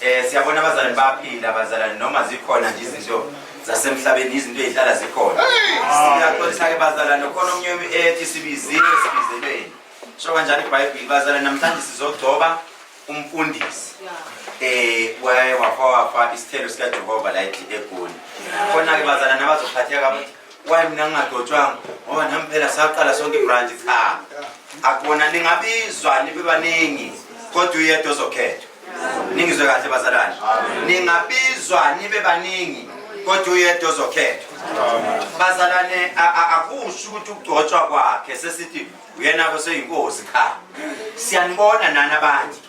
Eh siyabona abazalwane baphila abazalwane noma zikhona nje izinto zasemhlabeni izinto ezihlala zikhona. Siyaxolisa ke bazalwane khona omnye ethi sibiziwe sibizelweni. Sho kanjani iBhayibheli bazalwane namhlanje sizogcoba umfundisi. Eh waye wafa wafa isithelo sikaJehova la ethi egoli. Khona ke bazalwane abazophatheka kabuhlungu Why mina ngingadotshwanga ngoba nami phela saqala sonke ibranch cha. Akubona ningabizwa nibe baningi kodwa uyedwa ozokhethwa. Ningizwe kahle bazalwane. Ningabizwa nibe baningi kodwa uyedwa ozokhethwa. Bazalwane a- a- akusho ukuthi ukugcotshwa kwakhe sesithi uyena ke seyinkosi cha. Siyanibona nani abanje.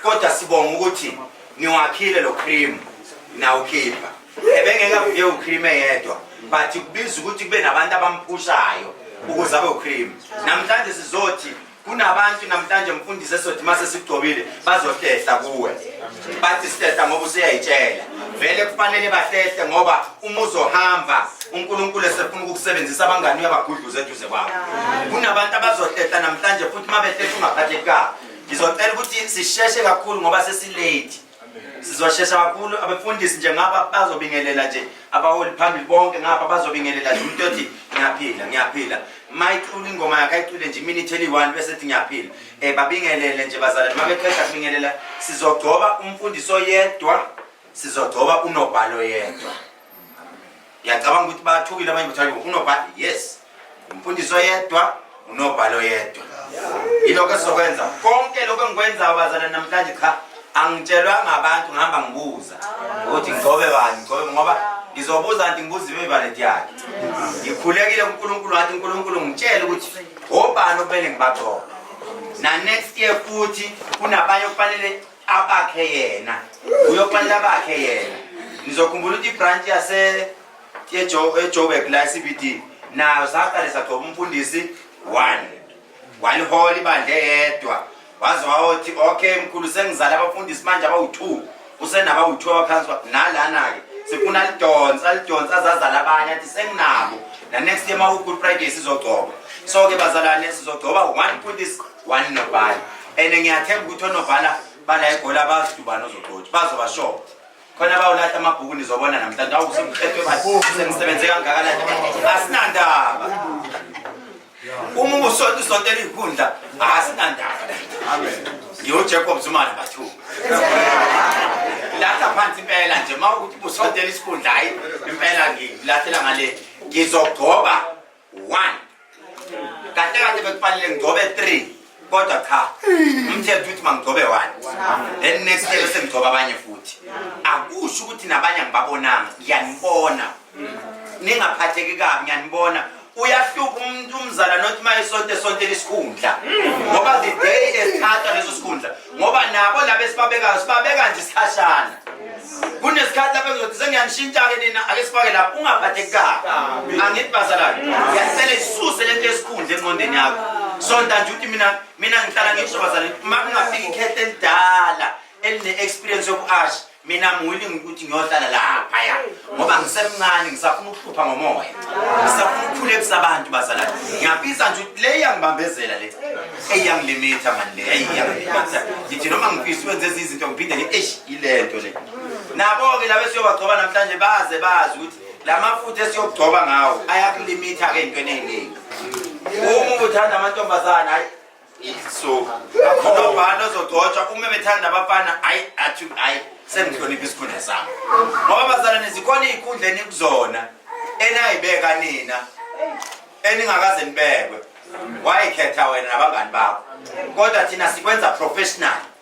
Kodwa sibonga ukuthi niwakhile lo cream nawukhipha. ebengeke avuke ucream eyedwa but kubiza ukuthi kube nabantu abamphushayo ukuze abe ucream namhlanje sizothi kunabantu namhlanje mfundisi esothi uma sesigcobile bazohlehla kuwe bathi sihlehla ngoba useyayitshela vele kufanele bahlehle ngoba uma uzohamba unkulunkulu esefuna ukukusebenzisa abangani uyabagudluza eduze kwabo kunabantu abazohlehla namhlanje futhi uma behlehla ungaphatheki kabi ngizocela ukuthi sisheshe kakhulu ngoba sesilate sizoshesha kakhulu abefundisi nje ngaba bazobingelela nje abaholi phambili bonke ngaba bazobingelela nje umuntu othi ngiyaphila ngiyaphila mayicula ingoma yakhe ayicule nje iminithe eliyi-one bese ethi ngiyaphila um babingelele nje bazalane uma beqeda kubingelela sizogcoba umfundisi oyedwa sizogcoba unobhalo yedwa ngiyacabanga ukuthi bathukile abanye bathi hayo unobhali yes umfundisi oyedwa unobhali oyedwa yilokho esizokwenza konke lokho engikwenzayo bazalwane namhlanje cha angitshelwa ngabantu ngihamba ngibuza ukuthi ngigcobe bani ngigcobe ngoba ngizobuza kanti ngibuza imivalet yakhe ngikhulekile kunkulunkulu ngathi unkulunkulu ngitshele ukuthi obani okumele ngibagcobe na next year futhi kunabanye okufanele abakhe yena uyoxelela abakhe yena nizokhumbula ukuthi ibranch yase ejoburg la cbd nayo saqale sagcoba umfundisi one walihola ibandla eyedwa waze wawothi okay mkhulu sengizala abafundisi manje abawu-two usenabawu-two abaphansi nalana-ke sifuna lidonsa lidonsa azazala abanye athi senginabo nanext year ma-good friday sizogcoba so-ke bazalane sizogcoba one fundisi one nobhala and ngiyathemba ukuthi onobhala bala egoli abazi ukuthi ubani ozogqotshi bazobashoba khona bawulahla amabhuku nizobona namhlanje awusemqethwe basengisebenze kangakanani asinandaba uma ubusonto isonto eliyikhundla asinandaba ngiwujacob zumane bathuba ngilahla phansi impela nje uma ukuthi ubusonto elisikhundla hayi impela ngilahlela ngale ngizogcoba one kahle kahle bekufanele ngigcobe three kodwa cha umthetho uthi mangigcobe one then next day bese ngigcoba abanye futhi akusho ukuthi nabanye angibabonanga ngiyanibona ningaphatheki kabi ngiyanibona uyahlupha umuntu umzala nothi uma esonto esontela isikhundla ngoba the day esithathwa leso sikhundla ngoba nabo laba esibabekayo sibabeka nje isikhashana kunesikhathi lapho ngizothi sengiyanishintsha-ke nina ake sifake lapho ungaphatheki kabi angithi bazalwane ngiyacela isuse le nto esikhundla engqondeni yakho sonta nje ukuthi mina mina ngihlala ngisho bazalwane uma kungafika ikhethe elidala eline-experience yoku-asha mina muwilling ukuthi ngiyohlala laphaya ngoba ngisemncane ngisafuna ukuhlupha ngomoya ngisafuna ukukhulekisa abantu bazalana ngiyapisa nje ukuthi le iyangibambezela le eyangilimita mani le eyangilimita ngithi noma ngifisa ukwenza ezinye izinto ngiphinde ngithi eish ile nto le nabo-ke laba esiyobagcoba namhlanje baze bazi ukuthi la mafutha esiyokugcoba ngawo ayakulimitha-ke entweni eyiningi uma uthanda amantombazane hayi so akhona ubani ozogcotshwa uma bethanda abafana ayi athi ayi sengihlonipha isikhundla sami ngoba bazalwane zikhona iy'khundla enikuzona enayibeka nina eningakaze nibekwe wayikhetha wena nabangani bakho kodwa thina sikwenza professional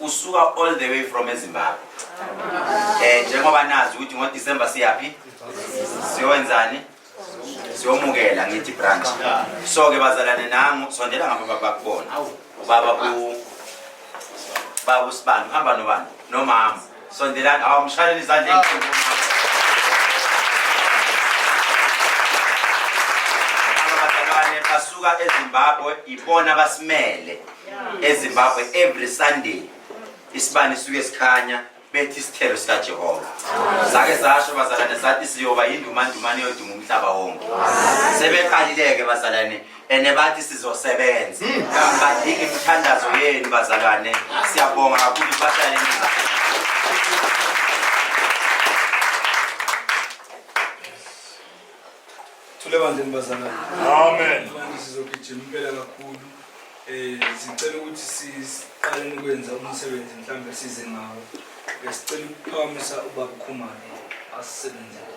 usuka all the way from ezimbabwe um njengoba nazi ukuthi ngodisemba siyaphi siyokwenzani siyomukela ngithi branch so-ke bazalane nangu sondela ngabo babakubona ubaba babu sibani uhamba nobani nomama Sondelani awamshaleli izandla enkulu. Abazalwane basuka eZimbabwe ibona basimele eZimbabwe every Sunday isibani suke sikhanya bethi isithelo sikaJehova sake zasho bazalwane sathi siyoba yindumandumane yoduma umhlaba wonke sebeqalileke bazalwane ene bathi sizosebenza badinga imithandazo yenu bazalwane siyabonga kakhulu bahlale nizalo thule bandleni bazalwane amen manje sizogijima impela kakhulu eh sicela ukuthi siqale ukwenza umsebenzi mhlawumbe size ngawo besicela ukuphakamisa ubaba ukhumane asisebenzele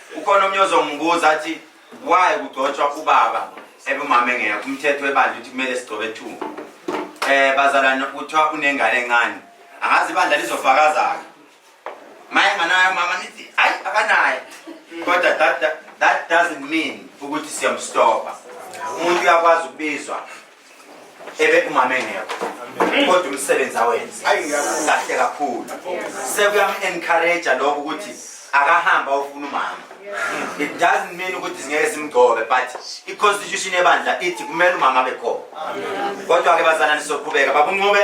ukhona omnye ozongibuza athi why kugcotshwa ubaba ebumama engekho umthetho webandla ukuthi kumele sigcobe two um eh, bazalwane kuthiwa unengane encane angazi ibandla lizofakazaka ma enganayo mama nithi hayi akanayo kodwa that, that doesn't mean ukuthi siyamstopa umuntu uyakwazi ukubizwa ebe umama engekho kodwa umsebenzi awenze kahle kakhulu sekuyam-encourage-a lokho ukuthi akahamba ofuna umama it doesn't mean ukuthi singeke simgcobe but i-constitution yebandla ithi kumele umama abe khona kodwa-ke bazalane sizoqhubeka babuncube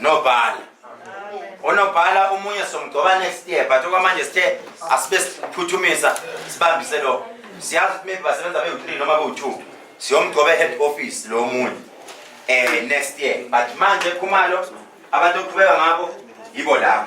nobhala onobhala omunye somgcoba next year but okwamanje sithe asibe siphuthumisa sibambise lo siyazi ukuthi maybe basebenza bewu-three noma bewu-two siyomgcoba e-head office lo munye um next year but manje khumalo abantu okuqhubeka ngabo yibo labo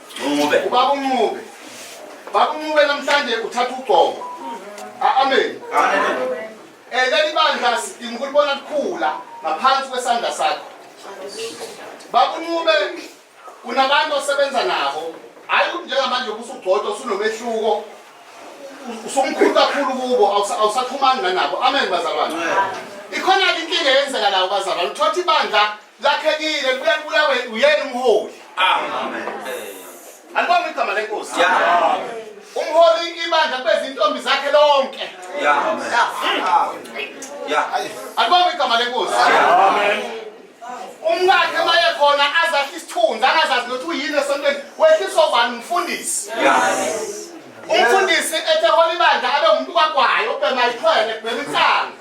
Ncube. Ubaba uNcube. Baba uNcube namhlanje uthatha ugcobo. Amen. Amen. Eh leli bandla sidinga ukulibona likhula ngaphansi kwesandla sakho. Baba uNcube unabantu osebenza nabo. Hayi ukuthi njengamanje ubusugcotha usunomehluko. Usumkhulu kakhulu kubo awusaxhumani nanabo. Amen bazalwane. Ikhona inkinga eyenzeka la ubazalwane. Uthothi ibandla lakhekile libuya libulawe uyena umholi alibonga igama lenkosi umholi ibandla kube zintombi zakhe lonke alibonga igama lenkosi umkakhe maye khona azahle isithunzi angazazi nokuthi uyini esontweni wehliswa ubani umfundisi umfundisi ethe hola ibandla abe umuntu kwagwayo ubhema ikhwele kubhema insangu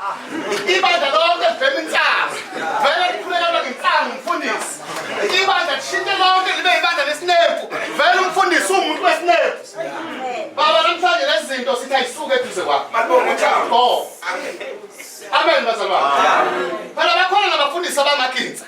ibandla lonke kubhema insangu vele likhulekana ngensangu umfundisi ibandla lishintshe lonke libe ibandla lesinemfu vele umfundisi uwumuntu wesinemfu baba namhlanje lezi zinto sithi ayisuke eduze kwakho amen bazalwane phela bakhona nabafundisi abamakinza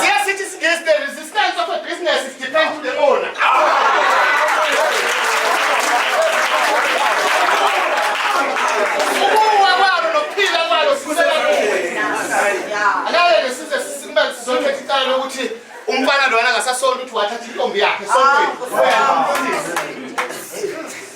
siyasithi is the resistance of a business is depend to the owner ukuwa kwalo nokuphila kwalo sibusela kuwe alale lesize sisimele sizothetha icala lokuthi umfana lona ngasasonto ukuthi wathatha intombi yakhe sontweni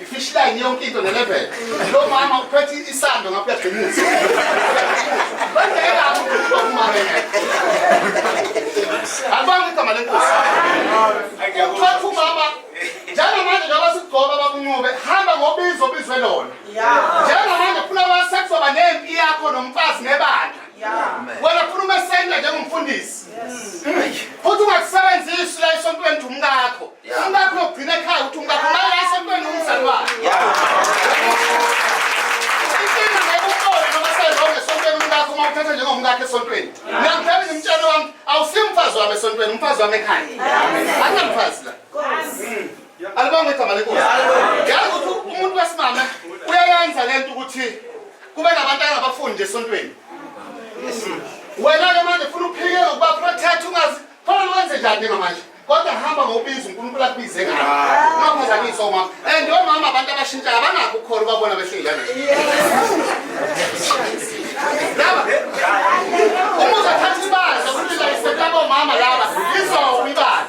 I-fish line yonke into ne-level. Lo mama uphethe isando ngapha uyagqimuza. Bengeke amukhuluma kumama engekho. Alibanga igama lenkosi. Uphethe umama njengamanje njengoba sikugcoba bakunqube hamba ngobizo obizwe lona. Njengamanje funa wasekuzwa nempi yakho nomfazi nebandla. Wena funa umesenda njengomfundisi. Futhi ungakusebenzisi la esontweni umkakho. Umkakho ugcina ekhaya ukuthi umkakho manje ayisontweni umzali wakhe. Inkinga ngekuqola noma sezonke esontweni umkakho uma uthatha njengomkakhe esontweni. Mina ngithanda ngimtshela wami awusimfazi wami esontweni umfazi wami ekhaya. Angamfazi la. Alibanga igama lenkosi. Yazi ukuthi umuntu wesimame uyayenza lento ukuthi kube nabantu angabafundi nje esontweni. Wena ke manje funa uphike ukuba protect ungazi. Khona wenze njani njengamanje? kodwa hamba ngobizo uNkulunkulu akubize ngayo ah. ungaphazamisa umama and omama abantu abashintsha abanakho ukukhona ubabona behleli kanje laba uma uzothatha ibandla ulinda isetaba omama laba izophi ibandla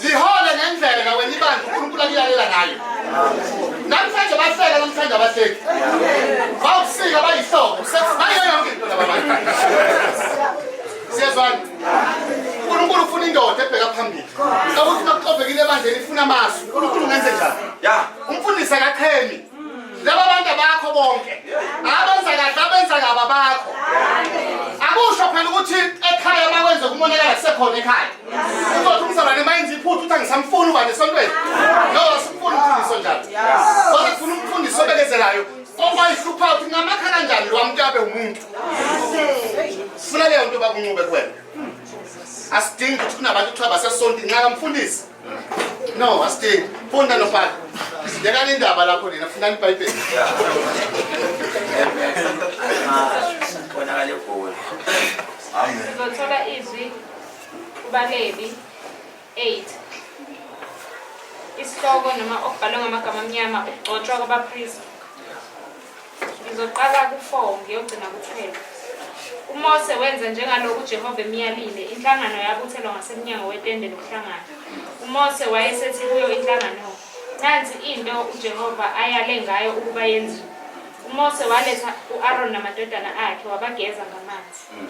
lihole ngendlela wena ibandla uNkulunkulu akuyalela ngayo namhlanje bahleka namhlanje abahleki bawusika bayihlobo sekubayo yonke into laba bantu siyezwana unkulunkulu ufuna indoda ebheka phambili kakuthi makuxovekile ebandleni ifuna amasu unkulunkulu ungenze njani umfundisi akachemi laba bantu abakho bonke abenza kahle abenza ngaba bakho akusho phela ukuthi ekhaya makwenze kumonakala kusekhona ekhaya uzothi umzalwane mayenza iphutha ukuthi angisamfuni ubani esontweni no asimfuni umfundiso njalo kodwa kufuna umfundisi obekezelayo Owayihlupha ukuthi ngamakha kanjani lo mntabe umuntu. Funa leyo nto bakunqube kuwena. Asidingi ukuthi kunabantu kuthiwa basesonti nxa kamfundisi. No, asidingi. Funda nobhala. Yekani indaba lakho nina, fundani iBhayibheli. Bonakale kuwe. Amen. Sizothola izwi kubaleli 8 isihloko noma okubhalwe ngamagama amnyama ukugcotshwa kwabapristi ngizoqala ku-4 ngiyogcina ku-12 umose wenza njengalokhu ujehova emyalile inhlangano yabuthelwa ngasemnyango wetende lokuhlangana umose wayesethi kuyo inhlangano nansi into ujehova ayale ngayo ukuba yenziwe umose waletha u-aroni namadodana akhe wabageza ngamanzi mm.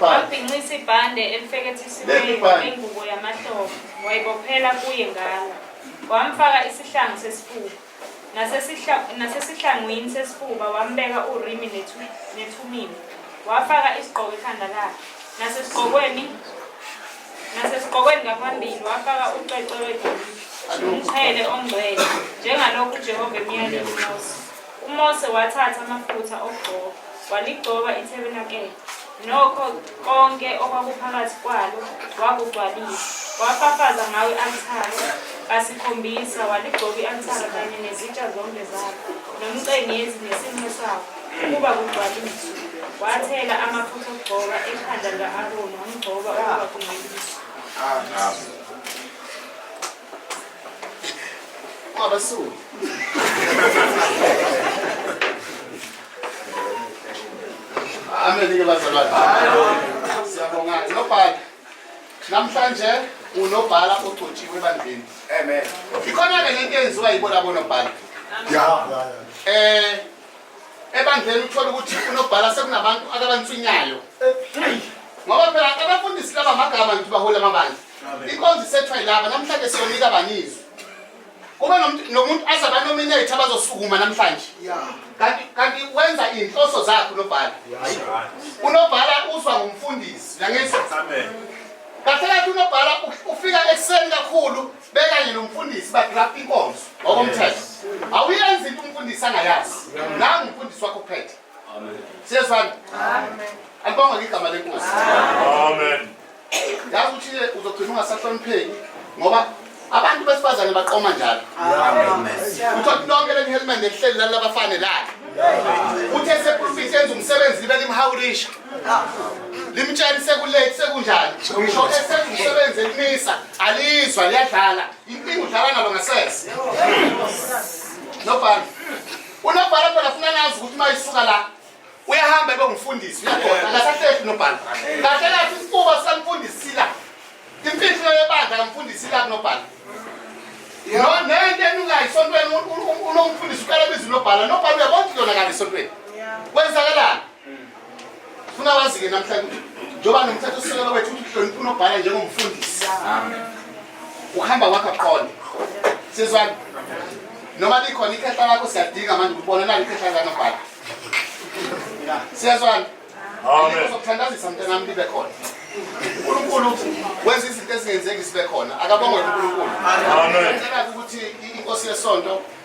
wabhinqisa ibhande elifekethisiweyo ngengubo yamahlobo wayibophela kuye ngalo wamfaka isihlangu sesifuba nasesihlangwini sesifuba wambeka urimi nethumini wafaka isigqoko ekhanda lakhe nasesigqokweni nasesigqokweni ngaphambili wafaka ucwecwe wedolile umqhele ongcwele njengalokhu ujehova emyaleni mose UMose wathatha amafutha okugcoba, waligcoba ithabernakele, nokho konke okwakuphakathi kwalo wakugcwalisa, wafafaza ngawo i-althare kasikhombisa, waligcoba i-althare kanye nezitsha zonke zalo, nomcengezi nesinqe sawo, ukuba kugcwaliswe. Wathela amafutha okugcoba ekhanda lika-Aroni, wamgcoba ukuba kungcweliswe. Abasuli. Amen-ke bazalwane. Siyabonga. Nobhala. Namhlanje unobhala ogcotshiwe ebandleni. Amen. Ikhona-ke le nto eyenziwa yibo labo nobhala. Yeah. Eh ebandleni uthole ukuthi unobhala sekunabantu akabantswinyayo ngoba phela abafundisi laba magama ngithi baholi amabandla inkonzo isethwa yilaba namhlanje siyonika banizwe kube nomuntu aze abanominate abazosukuma namhlanje kanti kanti wenza iy'nhloso zakhe unobhala unobhala uzwa ngumfundisi nangisa kahle kathi unobhala ufika ekuseni kakhulu bekanye nomfundisi bagrapha inkonzo ngokomthetho awuyenzi into umfundisi angayazi nangu umfundisi wakho phethe siyezwana alibonga ngigama lenkosi amen yazi ukuthi uzogcina ungasahlonipheki ngoba abantu besifazane baqoma njalo uthola lonke leli helmet nelihleli lali labafane lali uthe seprofit yenza umsebenzi libe limhawurisha limtshela sekulethi sekunjani ngisho esenza umsebenzi elimisa Alizwa liyadlala. Inkinga udlala nalo ngasese. Nobhala. Unobhala phela ufuna nazi ukuthi uma isuka la uyahamba ebe ngumfundisi uyagona akasahlehli nobhala. Kahle kahle isifuba sikamfundisi la. Imfihlo yebandla kamfundisi la kunobhala. No nento enukayo isontweni unomfundisi uqala bizi nobhala nobhala uyabona ukuthi yona kani isontweni. Kwenzakalani? funa wazi-ke namhlanje ukuthi njengoba nomthetho sisekelo wethu ukuthi uhlonipha unobhala njengomfundisi ukuhamba kwakho qonde sizwani noma likhona ikhehla lakho siyadinga manje ukubona nalo ikhehla likanobhala siyazwani zokuthandazisa mntanami libe khona unkulunkulu wenza izinto ezingenzeki zibe khona akabongwe unkulunkulu ukuthi inkosi yesonto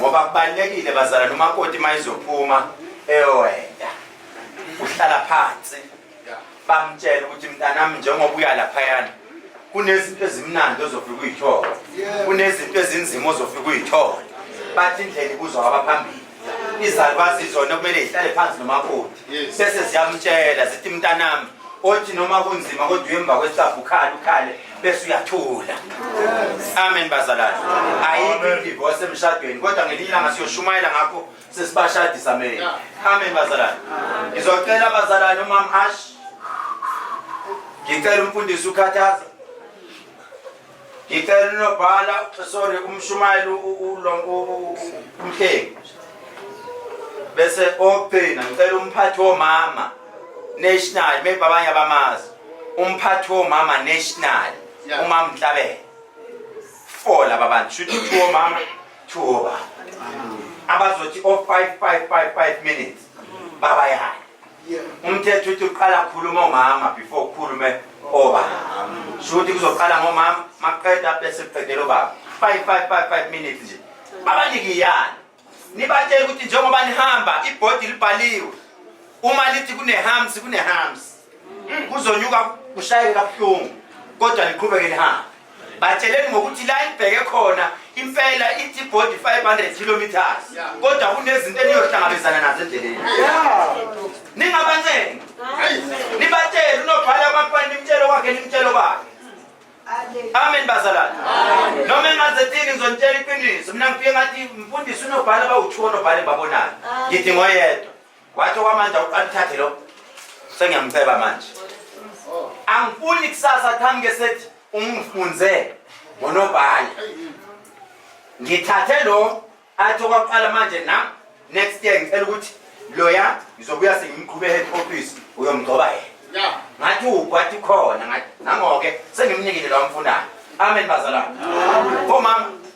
ngoba kubalulekile bazala nomakoti uma izophuma ewenda uhlala phansi bamtshela ukuthi mntanami njengoba uya laphayana kunezinto ezimnandi ozofika uyithola kunezinto ezinzima ozofika uyithola bathi indlela ibuzwa kwabaphambili izalukazi zona kumele zihlale phansi nomakoti bese ziyamtshela zithi mntanami othi noma kunzima kodwa uyemva kwesabhu ukhale ukhale bese uyathula amen bazalwane ayikho idivorce emshadweni kodwa ngelinye ilanga siyoshumayela ngakho sesibashadisa amen amen bazalwane ngizocela abazalwane umam ash ngicela umfundisi ukhathaza Ngicela unobhala sorry umshumayeli umhlengi bese ogcina ngicela umphathi womama national maybe abanye abamazi umphathi womama national umama Nhlabele four laba bantu shuthi two womama two wobaba abazothi o 5 5 5 5 minutes baba yani umthetho uthi uqala khuluma omama before ukhulume oba shuthi kuzoqala ngomama maqeda bese kuqedela obaba 5555 minutes nje babanikiyani nibatshela ukuthi njengoba nihamba ibhodi libhaliwe uma lithi kunehams kunehams kuzonyuka kushayeke kabuhlungu kodwa niqhubeke nihambe batsheleni ngokuthi la ibheke khona impela ithi body 500 kilometers kodwa kunezinto eniyohlangabezana nazo endleleni ningabanceni nibatshele unobhala kwakubani nimtshelo kwakhe nimtshelo kwakhe amen bazalwane noma engazethini ngizonitshela iqiniso mina ngifike ngathi mfundisi unobhala bawuthiwa onobhala engibabonayo ngithi ngoyedwa wathi okwamanje awuqalithathe lo sengiyamceba manje angifuni kusasa qhamuke sethi ungifunze ngonobhala ngithathe lo athi okwaqala manje na next year ngicela ukuthi loya ngizobuya sengimqhube head office uyomgcoba yena ngathi ugwathi khona ngathi nangoke sengimnikile lo amfunayo amen bazalwane omama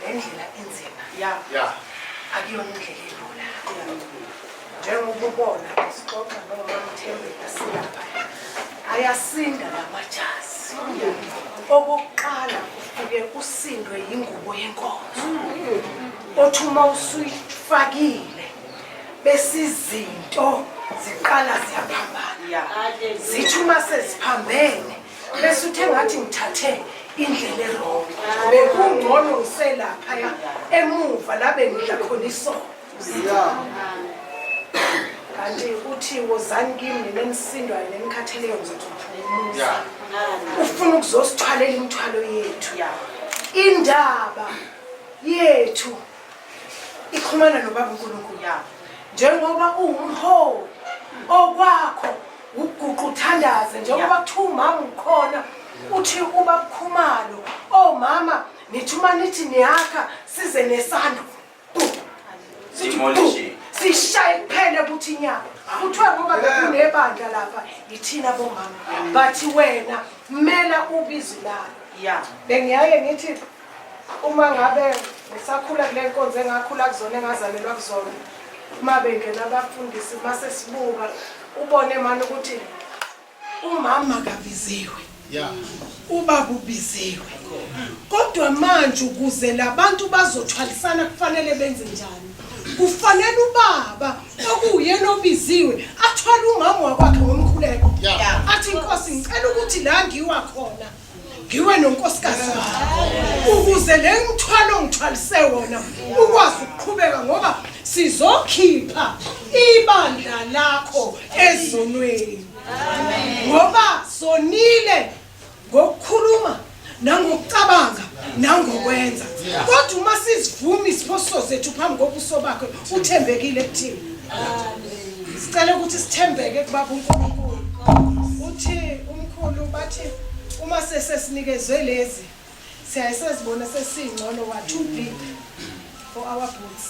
le ndlela inzima ya ya akuyona indlela elula njengoba ubona sixoxa nomamthembeka silapha ayasinda lamajazi okokuqala ufike usindwe yingubo yenkonzo othi uma usuyifakile besizinto ziqala ziyaphambana zithi uma seziphambene bese uthe ngathi ngithathe indlela erong bekungcono ngiselaphaya emuva la bengidla khona isono kanti uthi wozani kimi nina enisindwayo nenikhatheleyo ngizothuphumuza ufuna ukuzosithwalela imithwalo yethu indaba yethu ikhumana nobaba unkulunkulu njengoba uwumholi okwakho Uguqa uthandaze njengoba kuthiwa umama ukhona uthi ubakukhumalo omama oh, nithi uma nithi niyakha size nesando sishaye kuphele kuthi inyama kuthiwa ngoba bekunebandla lapha yithina bomama but wena mela ubizi lalo bengiyaye ngithi Uma ngabe ngisakhula kule nkonzo engakhula kuzona engazalelwa kuzona uma bengena abafundisi uma sesibuka ubone mani ukuthi umama kabiziwe ubaba ubiziwe kodwa manje ukuze labantu bazothwalisana kufanele benze njani kufanele ubaba okuyena obiziwe athwale umama wakwakhe ngomkhuleko athi inkosi ngicela ukuthi la ngiwa khona ngiwe nonkosikazi ukuze le mthwalo ngithwalise wona ukwazi ukuqhubeka ngoba sizokhipha ibandla lakho ezonweni ngoba sonile ngokukhuluma nangokucabanga nangokwenza kodwa uma sizivuma iziphoso zethu phambi kobuso bakhe uthembekile kuthina sicela ukuthi sithembeke kubaba uNkulunkulu uthi umkhulu bathi uma sesesinikezwe lezi siyaye sezibona sesingcono wa too big for our boots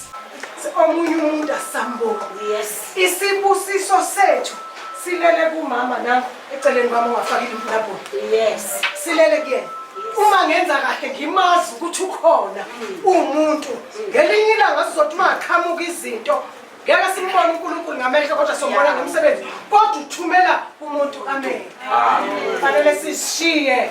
omunye umuntu asamboni yes isibusiso sethu silele kumama nangu eceleni kwami ongafakile umnabhulu yes silele kuyena uma ngenza kahle ngimazi ukuthi ukhona uwumuntu ngelinye ilanga sizothi uma aqhamuka izinto ngeke simbone unkulunkulu ngamehlo kodwa sombona ngomsebenzi kodwa uthumela umuntu amen fanele sishiye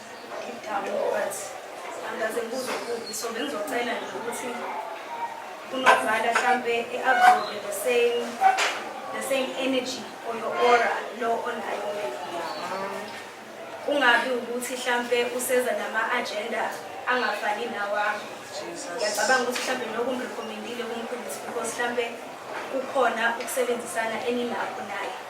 unozala mhlampe i-absorbe the same the same energy or your aura lo onayo wena kungabi ukuthi mhlampe useza nama-agenda angafani nawami ngiyacabanga ukuthi mhlampe lokhu ngirekhomendile kumkhulisi because mhlampe kukhona ukusebenzisana eninakho naye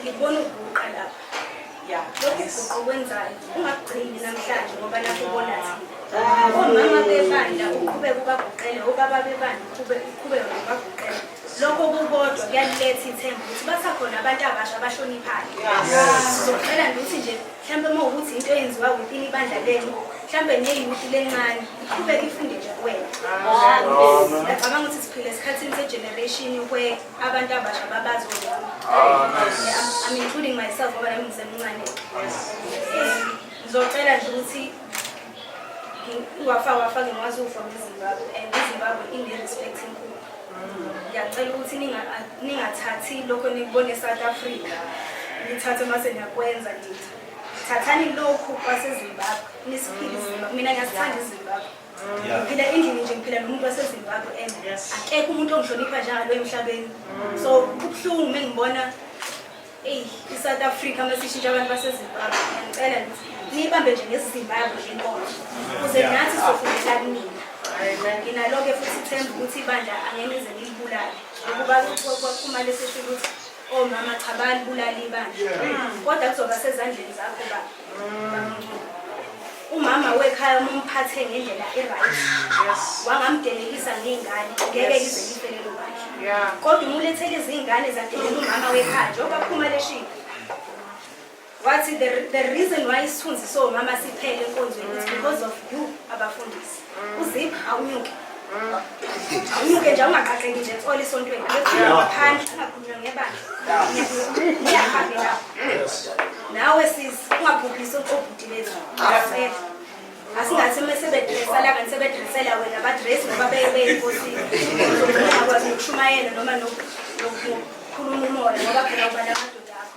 Ngibona ukuguqa lapha. Ya. Lokhu uguqo kwenzayo. Ungakugcini namhlanje ngoba lapho ubona thina. Omama bebandla uqhubeka ubaguqele, obaba bebandla uqhubeka uqhubeka ubaguqele. Lokho kukodwa kuyaletha ithemba ukuthi basakhona abantu abasha abahloniphayo. Sizocela nje ukuthi nje mhlawumbe uma ukuthi into eyenziwa within ibandla lenu mhlawumbe neyuthi lencane iqhubeke ifunde nje kuwena. Ngiyacabanga ukuthi siphila esikhathini se-generation where abantu abasha babazi I'm including myself ngoba nami ngisemncane um, ngizocela nje ukuthi wafake wafake ngwazi ufa ngezimbabwe and izimbabwe ine-respect enkulu ngiyacela ukuthi ningathathi lokho nikubone e-south africa nithathe uma seniyakwenza nitha thathani lokhu kwasezimbabwe nisiphile izimbabwe mina ngiyasithanda izimbabwe Yeah. ngiphila endlini nje ngiphila nomuntu wasezimbabwe and Yes. akekho umuntu ongihlonipha njalo emhlabeni so kubuhlungu uma ngibona eyi i-south africa uma sishintsha abantu basezimbabwe ngiyacela ngithi niyibambe nje ngesizimbabwe le nkonzo kuze Yeah. nathi sofundela kunina Amen. nginalo-ke futhi ithemba ukuthi ibandla angeke nize nilibulale ukuba ku- kwaphuma lesisho ukuthi omama cha balibulala ibandla kodwa kuzoba sezandleni zakho baba umama wekhaya uma umphathe ngendlela e-right wangamdelekisa ngey'ngane ngeke ize lifelelo bandla kodwa uma ulethele izingane zadelela umama wekhaya njengoba phuma leshiya wathi the, the reason why isithunzi somama siphele enkonzweni is because of you abafundisi Uzipha awunyuke. Awunyuke nje ungaqaqeki nje tsole esontweni. Phandle ungakhulunywa ngebandla. Ngiyahambe lapho. Nawe sis ungabhubhisi obhuti bethu. Ngiyacela. Asingathi uma sebedresala kanti sebedresela wena badress ngoba beye beyinkosi. Akwazi ukushumayela noma nokukhuluma umoya ngoba phela ubala amadoda akho.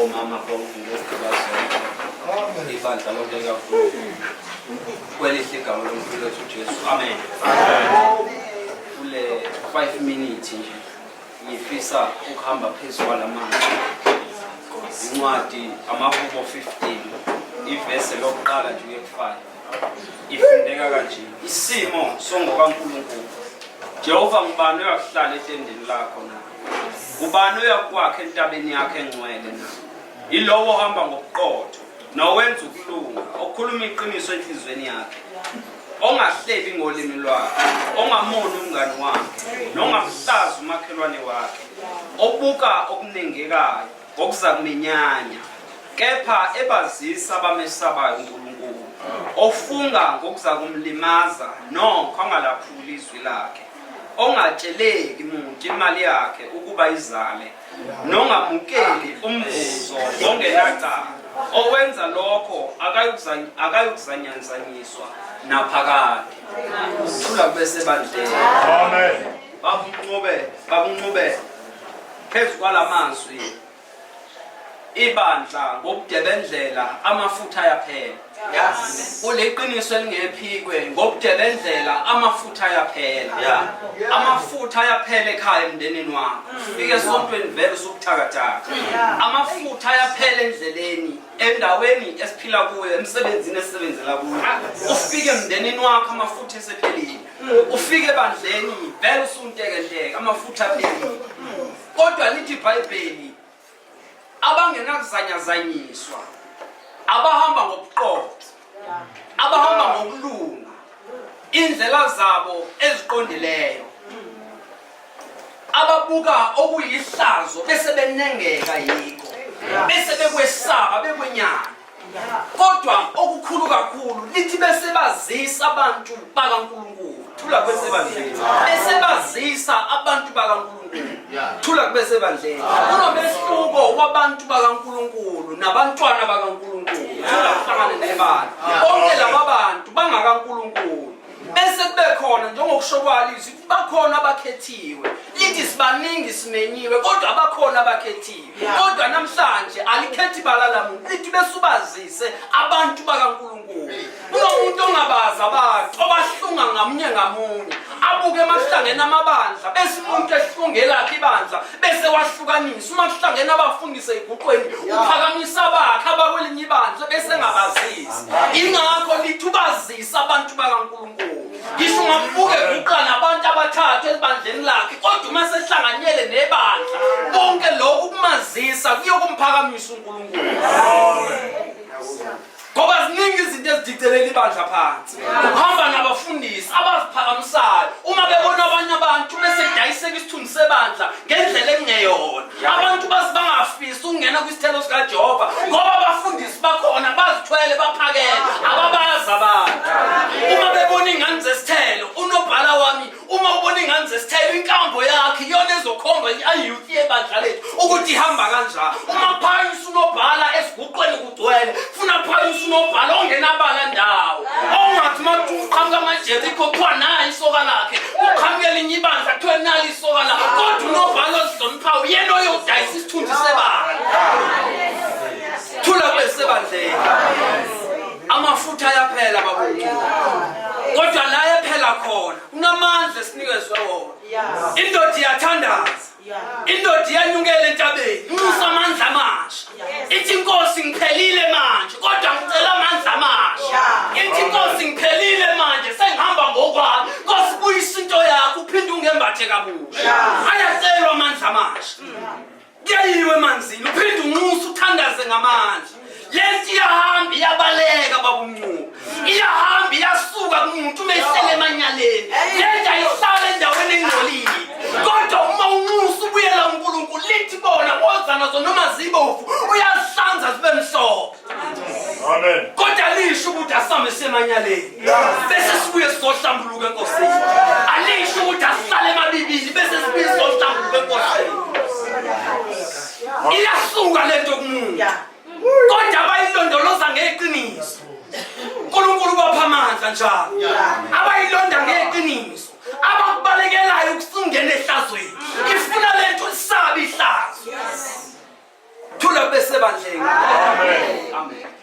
omama bonke ngokubazonke ibandla lonke kakhulu kwelihle igama lomkhulu wethu ujesu amen kule five minutes nje ngifisa ukuhamba phezu kwala manzi incwadi amahubo 15 ivese lokuqala nje uye kufive Ifundeka kanje, isimo songokaNkulunkulu. Jehova ngubani oyakuhlala etendeni lakho na? Ngubani oyakwakha entabeni yakhe engcwele na? Yilowo ohamba ngobuqotho nowenza ukulunga, okhuluma iqiniso enhliziyweni yakhe ongahlebi ngolimi lwakhe ongamoni umngani wakhe nongamhlazi umakhelwane wakhe obuka okunengekayo ngokuzakumenyanya, kepha ebazisa abamesabayo uNkulunkulu, ofunga ngokuzakumlimaza nokho angalaphuli izwi lakhe, ongatsheleki muntu imali yakhe ukuba izale, nongamukeli umvuzo ongenacala, okwenza lokho akayukuzany- akayukuzanyanzanyiswa naphakade. Thula kube sebandleni. Amen. Bakunqobe, bakunqobele. Phezu kwala mazwi ibandla ngokudebendlela amafutha ayaphela. Yes. Kuliqiniso elingephikwe ngokudebendlela amafutha ayaphela. Yeah. Amafutha ayaphela ekhaya emndenini wakho. Ufike esontweni vele usubuthakathaka. Amafutha ayaphela endleleni endaweni esiphila kuyo emsebenzini esisebenzela kuyo. Ufike emndenini wakho amafutha esephelile. ufike ebandleni vele usuntekenteke amafutha apheli kodwa lithi ibhayibheli abangenakuzanyazanyiswa abahamba ngobuqotho abahamba ngokulunga indlela zabo eziqondileyo ababuka okuyihlazo bese benengeka yikho bese bekwesaba bekwenyana kodwa okukhulu kakhulu lithi besebazisa abantu bakaNkulunkulu thula kwesebandleni besebazisa abantu bakaNkulunkulu thula kubesebandleni kunomehluko wabantu bakaNkulunkulu nabantwana bakaNkulunkulu thula kuhlangane nebala bonke laba bantu bangakaNkulunkulu bese kube khona njengokusho kwalizwi bakhona abakhethiwe lithi sibaningi simenyiwe kodwa abakhona abakhethiwe kodwa namhlanje alikhethi ibala lamuntu lithi besubazise abantu bakankulunkulu kunomuntu ongabazi abantu obahlunga ngamunye ngamunye abuke emahlangeni amabandla bese umuntu ehlungelakhe ibandla bese wahlukanisa uma kuhlangene abafundisi eyiguqweni uphakamisa abakhe abakwelinye ibandla bese engabazisi ingakho lithi ubazi Ngisa abantu bakaNkulunkulu. Ngisho ungambuke guqa nabantu abathathu ebandleni lakhe kodwa uma sehlanganyele nebandla konke lokhu kumazisa kuyokumphakamisa uNkulunkulu. Ngoba ziningi izinto ezidicelela ibandla phansi. Uhamba nabafundisi abaziphakamisayo uma bebona abanye abantu bese dayiseka isithunzi sebandla ngendlela engeyona. abantu basi bangafisi ukungena kwisithelo sikajehova ngoba abafundisi bakhona bazithwele baphakele ababazi abantu uma bebona iy'ngane zesithelo unobhala wami uma ubona iy'ngane zesithelo inkambo yakhe iyona ezokhomba i-youth yebandla lethu ukuthi ihamba kanjani uma phayisa unobhala esiguqweni gcwele funa phaya usunobhala ongenabala ndawo ongathi uma kuqhamuka amajerikho kuthiwa nayo isoka lakhe kuqhamuke elinye ibandla kuthiwe nalo isoka lakhe kodwa unobhala ozihloniphayo uyena oyodayisa isithunzi sebandla thula kube sebandleni amafutha ayaphela babuthi kodwa la ephela khona kunamandla esinikezwe wona indoda iyathandaza indoda iyanyukela entabeni nxusa amandla amasha ithi inkosi ngiphelile manje kodwa ngicela amandla amasha ithi inkosi ngiphelile manje sengihamba ngokwami nkosi buyisa into yakho uphinde ungembathe kabusha ayacelwa amandla amasha kuyayiwe emanzini uphinde unxusa uthandaze ngamandla lento iyahamba iyabaleka babumncube iyahamba iyasuka kumuntu uma ihlele emanyaleni lento ayihlala endaweni engcolile kodwa uma unxusa ubuyela unkulunkulu lithi bona woza nazo noma zibovu uyazihlanza zibe mhlophe kodwa lisho ukuthi asihambe semanyaleni bese sibuye sizohlambuluka enkosini alisho ukuthi asihlale emabibili bese sibuye sizohlambuluka enkosini iyasuka lento kumuntu kodwa abayilondoloza ngeqiniso uNkulunkulu ubapha amandla njalo abayilonda ngeqiniso abakubalekelayo ukusungena ehlazweni ifuna lento isabi ihlazo thula bese bandleni amen amen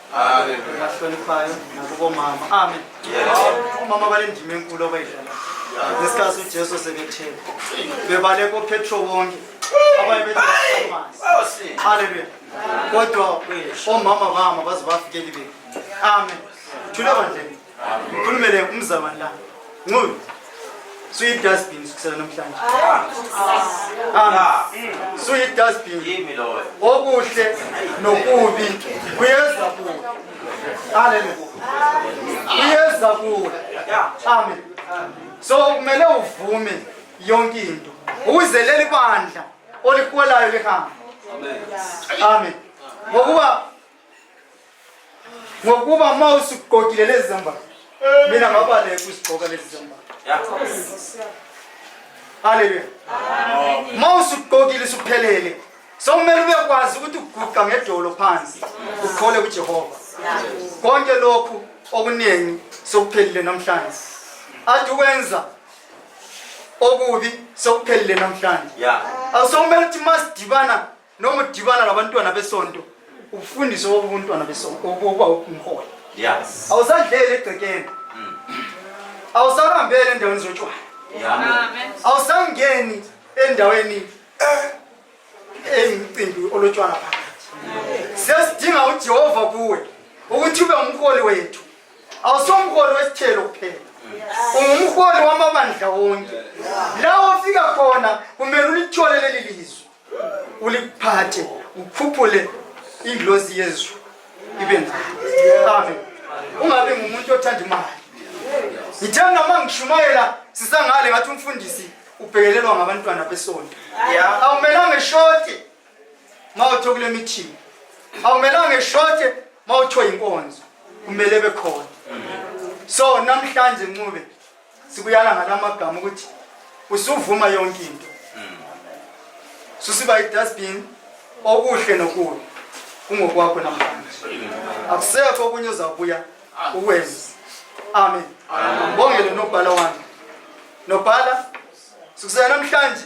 bahloniphayo nakubomama amen omama banendima enkulu abayidlala ngesikhathi ujesu sebethele bebaleka opetro wonke abaye bethaamazi halleluya kodwa omama bama baze bafikeli benu amen thule bandleni Ngikhulumele umzabani la. Nqulu. Suyi dustbin sikusela namhlanje. Ah. Suyi dustbin. Yimi loyo. Okuhle nokubi kuyeza kuwe. Haleluya. Kuyeza kuwe. Amen. So kumele uvume yonke into. Ukuze leli bandla oliholayo lihambe. Amen. Amen. Ngokuba ngokuba uma usugqokile lezi zambatho mina ngabaleka uzigqoka lezi zambatho haleluya uma usugqokile suphelele sokumele ubekwazi ukuthi uguqa ngedolo phansi ukhole kujehova konke lokhu okuningi sokuphelile namhlanje athi ukwenza okubi sokuphelile namhlanje awusokumele ukuthi uma sidibana noma udibana nabantwana besonto ufundise obuntwana besonto ukuba umholi yes awusadlele egcekeni mm. awusarambele endaweni zotshwala awusangeni endaweni eh, emcimbi olotshwala phakathi sesidinga ujehova kuwe ukuthi ube umholi wethu awusomholi wesithelo kuphela ungumholi wamabandla wonke la ofika khona kumele ulithole leli lizwe ulikuphathe ukhuphule indlozi yezulu ibe nawe ungabe ngumuntu othanda imali ngithe noma ngishumayela sisangale ngathi umfundisi ubhekelelwa ngabantwana besonto awumelanga eshote ma uthiwe kule mithingi awumelanga eshote ma uthiwe yinkonzo kumele bekhona so namhlanje ncube sikuyala ngalamagama ukuthi usuvuma yonke into hmm. susiba idustbin okuhle nokubi kungokwakho namhlanje akusekho okunye uzabuya ukwenza amen ngibongele nobhala wami nobhala sikusela namhlanje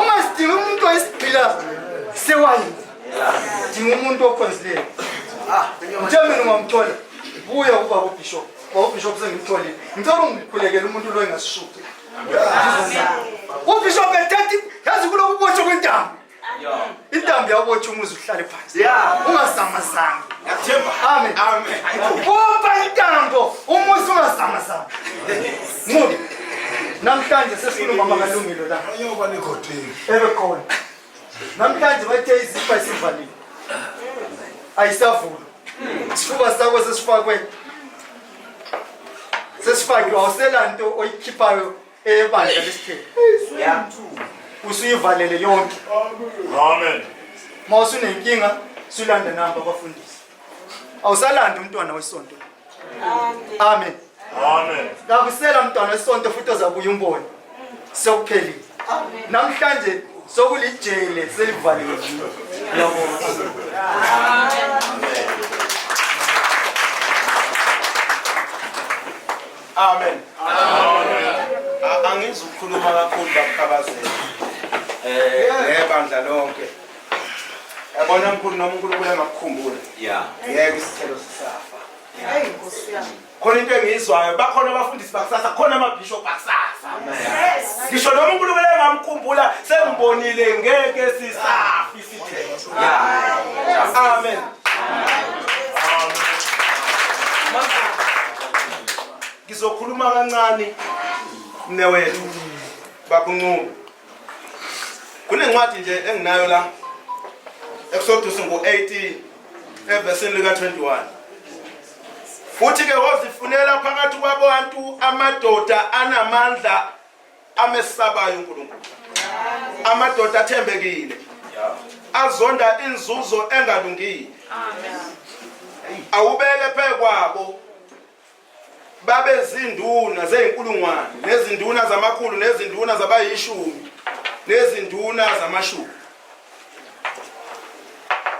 uma sidinga umuntu oyisigqila sewayini dinga umuntu okhonzileyo uthe mina ungamthola buya ukuba kubishop ubishop sengimtholile ngicela ungikhulekele umuntu lo engasishuki ubishop ethetha yazi kulokuboshwa kwentambo intambo yawubotha umuzi uhlale phansi ungazamazami bopha intambo umuzi ungazamazami mubi namhlanje sesifuna umama kalungile la ebekhona namhlanje bathe izifa isivalile ayisavulwa isifuba sakho sesifakwe sesifakiwe awusela nto oyikhiphayo ebandla lesithembu Yeah. usuyivalele yonke Amen. uma usunenkinga sulanda namba abafundisi awusalandi umntwana wesonto amen Amen. kakusela mntwana wesonto futhi ozabuya umbone sekuphelile namhlanje sokulijele selivaliwe Uyabona? Amen. Amen. Angizi ukukhuluma kakhulu bakukhabazela. Eh, nebandla lonke. Yabona mkhulu noma uNkulunkulu engakukhumbula. Yeah. Yeke isithelo sisafa. Hey Nkosi yami. Khona into engiyizwayo bakhona abafundisi bakusasa khona amabishop bakusasa. Yes. Ngisho noma uNkulunkulu engamkhumbula sengibonile ngeke sisafi. Amen. Ngizokhuluma kancane mnewethu bakunquma. Kunencwadi nje enginayo la Exodus ngo-18 evesini lika-21 futhi-ke wozifunela phakathi kwabantu amadoda anamandla amesabayo uNkulunkulu amadoda athembekile azonda inzuzo engalungile awubeke phekwabo babe zinduna zeyinkulungwane nezinduna zamakhulu nezinduna zabayishumi nezinduna zamashumi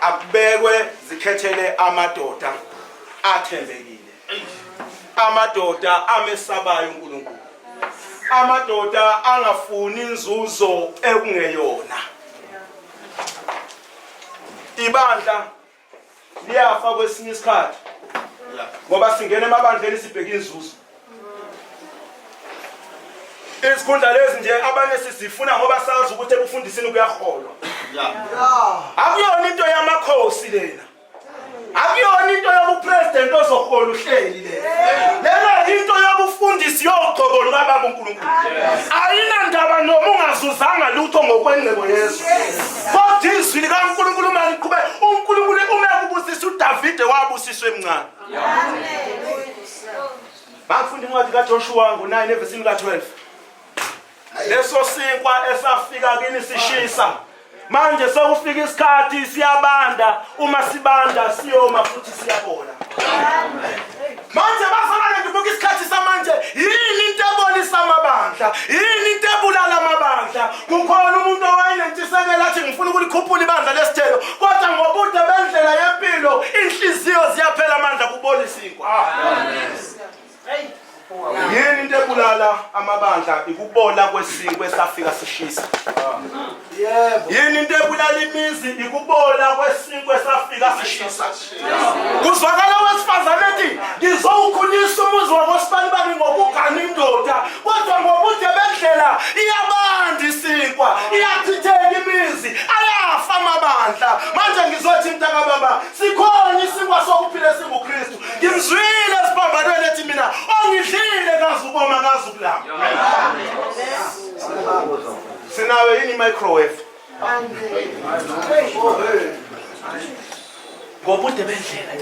akubekwe zikhethele amadoda athembekile amadoda amesabayo uNkulunkulu amadoda angafuni inzuzo ekungeyona ibandla liyafa kwesinye isikhathi ngoba singena emabandleni sibheke inzuzo izikhundla lezi nje abanye sizifuna ngoba sazi ukuthi ekufundisini kuyaholwa akuyona into yamakhosi lena akuyona into yobupresident ozohola uhleli lena yinto yobufundisi yoqobo lukababa unkulunkulu ayinandaba noma ungazuzanga lutho ngokwengcebo yezwe kodwa izwi likankulunkulu uma liqhube unkulunkulu ume kubusisa udavide wabusiswa emncane bangifunda incwadi kajoshuwa ngo-9 evesini ka-12 leso sinkwa esafika kini sishisa manje sekufika isikhathi siyabanda uma sibanda siyoma futhi siyabola manje bazalwane ngibuka isikhathi samanje yini into ebonisa amabandla yini into ebulala amabandla kukhona umuntu owayenentshisekelo athi ngifuna ukulikhuphula ibandla lesithelo kodwa ngobude bendlela yempilo inhliziyo ziyaphela amandla kubonisa inkwa yini into ebulala amabandla ikubola kwesinkwe safika sishisa yini into ebulala imizi ikubola kwesinkwe safika sishisa kuzwakala wesifazane ethi ngizowukhulisa umuzi wakosibani bami ngokugana indoda kodwa ngobude bendlela iyabanda isinkwa iyathitheka imizi ayafa amabandla manje ngizothi mntakababa sikhona isinkwa sokuphila esingukristu ngimzwile esiphambanweni ethi mina ongidlile kazi ukoma kazi ukulama sinayo yini i-microwave ngobude bendlela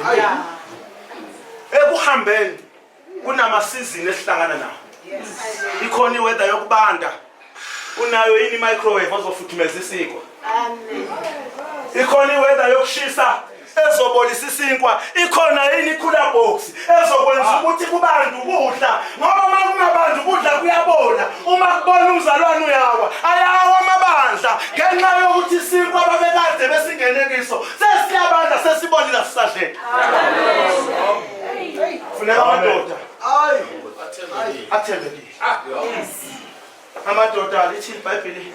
ekuhambeni kunamasizini esihlangana nawo ikhona iweather yokubanda unayo yini microwave ozofuthumeza isinkwa amen ikhona iweather yokushisa ezobolisa isinkwa ikhona yini ikhula box ezokwenza ah. ukuthi kubantu ukudla ngoba uma kungabantu ukudla kuyabola uma kubona umzalwane uyawa ayawa amabandla ngenxa yokuthi isinkwa babekade besingene kiso sesiyabandla sesibolile sisadlela funeka amadoda athembekile Ah, amadoda lithi ibhayibheli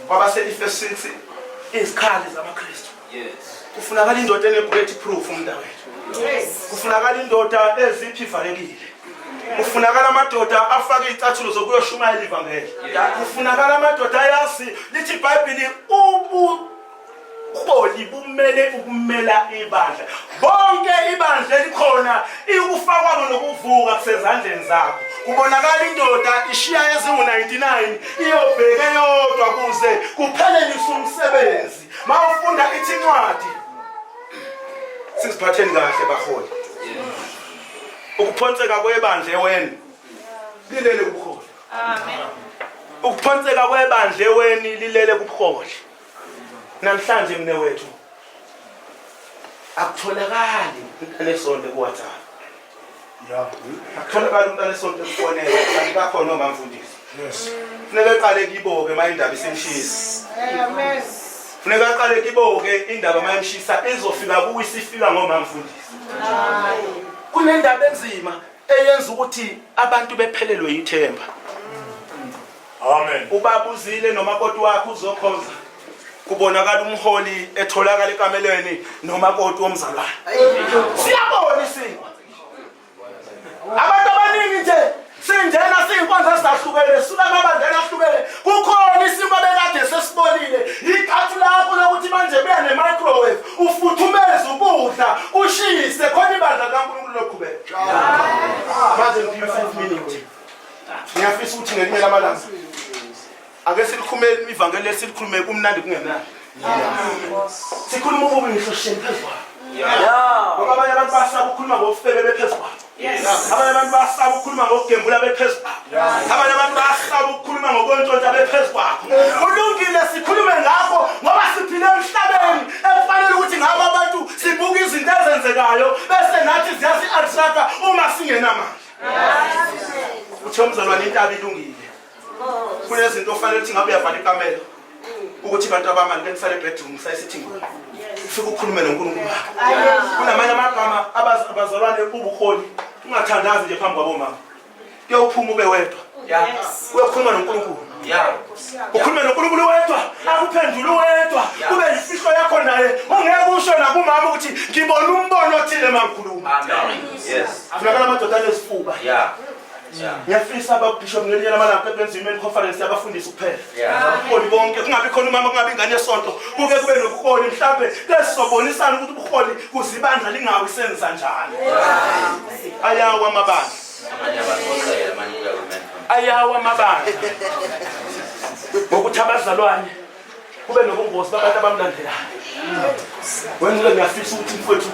kwabaselifesinsi izikhali zamakristu kufunakala indoda enebullet proof umntakwethu kufunakala indoda eziphi ivalekile kufunakala amadoda afake iy'cathulo zokuyoshumayela ivangeli kufunakala amadoda ayazi lithi ibhayibhili ubu ubuholi bumele ukumela ibandla bonke ibandla elikhona ikufakwabo nokuvuka kusezandleni zakho kubonakala indoda ishiya ezingu-99 iyobheke yodwa kuze kuphelelise umsebenzi ma ufunda ithi incwadi siziphatheni kahle baholi ukuphonseka kwebandla eweni lilele kubuholi ukuphonseka kwebandla eweni lilele kubuholi namhlanje mne wethu akutholakali umntana esonto kuwhatsapp akutholakali umntana esonto ekufonela kanti bakhona omamfundisi funeka eqale kibo-ke uma indaba isimshisi funeka aqale kibo-ke indaba uma imshisa izofika kuwe isifika ngomamfundisi kunendaba enzima eyenza ukuthi abantu bephelelwe yithemba Amen. Ubaba uzile nomakoti wakhe uzokhonza. Kubonakala umholi etholakala ekamelweni nomakoti womzalwane. Siyabona isimo. Abantu abaningi nje sinjena siyinkonzo ezahlukene sula amabandela ahlukene kukhona isimo bekade sesibonile ikhathu lakho lokuthi manje buya ne-microwave ufuthumeze ukudla kushise khona ibandla likankulunkulu loqhubeka manje ngiphiwe five minutes ngiyafisa ukuthi ngelinye lamalanga ake silikhumele ivangeli lesilikhulume kumnandi kungenani sikhuluma ububi ngisho sheni phezu kwalo ngoba abanye abantu basaba ukukhuluma ngokufebe bephezu kwalo abanye abantu basaba ukukhuluma ngokugembula bephezu kwakho abanye abantu basaba ukukhuluma ngokwentshontsha bephezu kwakho kulungile sikhulume ngakho ngoba siphile emhlabeni ekufanele ukuthi ngabo abantu sibuke izinto ezenzekayo bese nathi ziyasi-athraka uma singenamandla uthe umzalwane intaba ilungile kunezinto ofanele ukuthi ngabe uyavala ikamelo ukuthi abantu abangani benisale ebedroom sayisithingweni ufike ukhulume nonkulunkulu wakho kunamanye amagama abazalwane ubukhoni ungathandazi nje phambi kwabomama kuyawuphuma ube wedwa uyokhuluma nonkulunkulu ukhulume nonkulunkulu wedwa akuphendule uwedwa kube yifihlo yakho naye ungeke usho nakumama ukuthi ngibona umbono othile mangikhuluma funakala amadoda anezifuba ngiyafisa ababishop ngelinye lamalanga ebenza imen conference yabafundisi kuphela ubuholi bonke kungabi khona umama kungabi ingane yesonto kuke kube nobuholi mhlawumbe besizobonisana ukuthi ubuholi kuzibandla lingawi senza njani ayawa amabandla ayawa amabandla ngokuthi abazalwane kube nobungozi babantu abamlandelayo wenzile ngiyafisa ukuthi mfowethu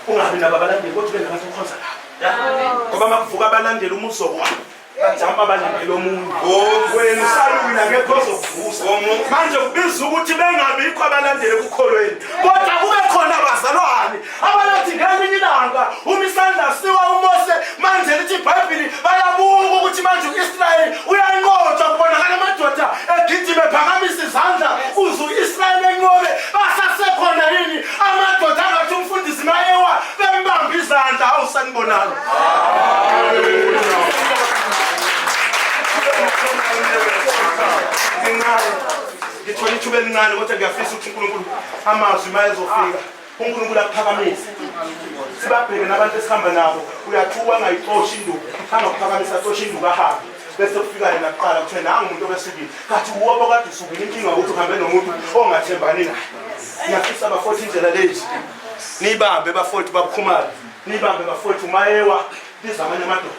ungabi nabo abalandeli kodwa ube nabantu okhonza nabo ngoba makuvuka abalandeli umuso wabo bajama balandela omunye oh. wena usalwile akekho ozokuvusa oh, manje kubiza ukuthi bengabikho abalandeli ekukholweni kodwa kube khona abazalwane abayothi ngelinye ilanga uma isandla siwa umose manje lithi ibhayibhili bayabuka ukuthi manje u-israyeli uyanqotshwa kubonakala amadoda egijime phakamisa izandla uze u-israyeli enqobe basasekhona yini amadoda angathi umfundisi mayewa bembambe izandla awu sanibonalo ngithole ithuba elincane kodwa ngiyafisa ukuthi unkulunkulu amazwi mayezofika unkulunkulu akuphakamise sibabheke nabantu esihamba nabo uyathuka angayixoshi induku angakuphakamisa axoshe induku ahambe bese kufika yena kuqala kuthiwe nangu umuntu obesikile kathi uwobo kade usukile inkinga ukuthi uhambe nomuntu ongathembani naye ngiyafisa bafoti indlela lezi niyibambe bafoti babukhumale niyibambe bafoti umayewa biza amanye amadoda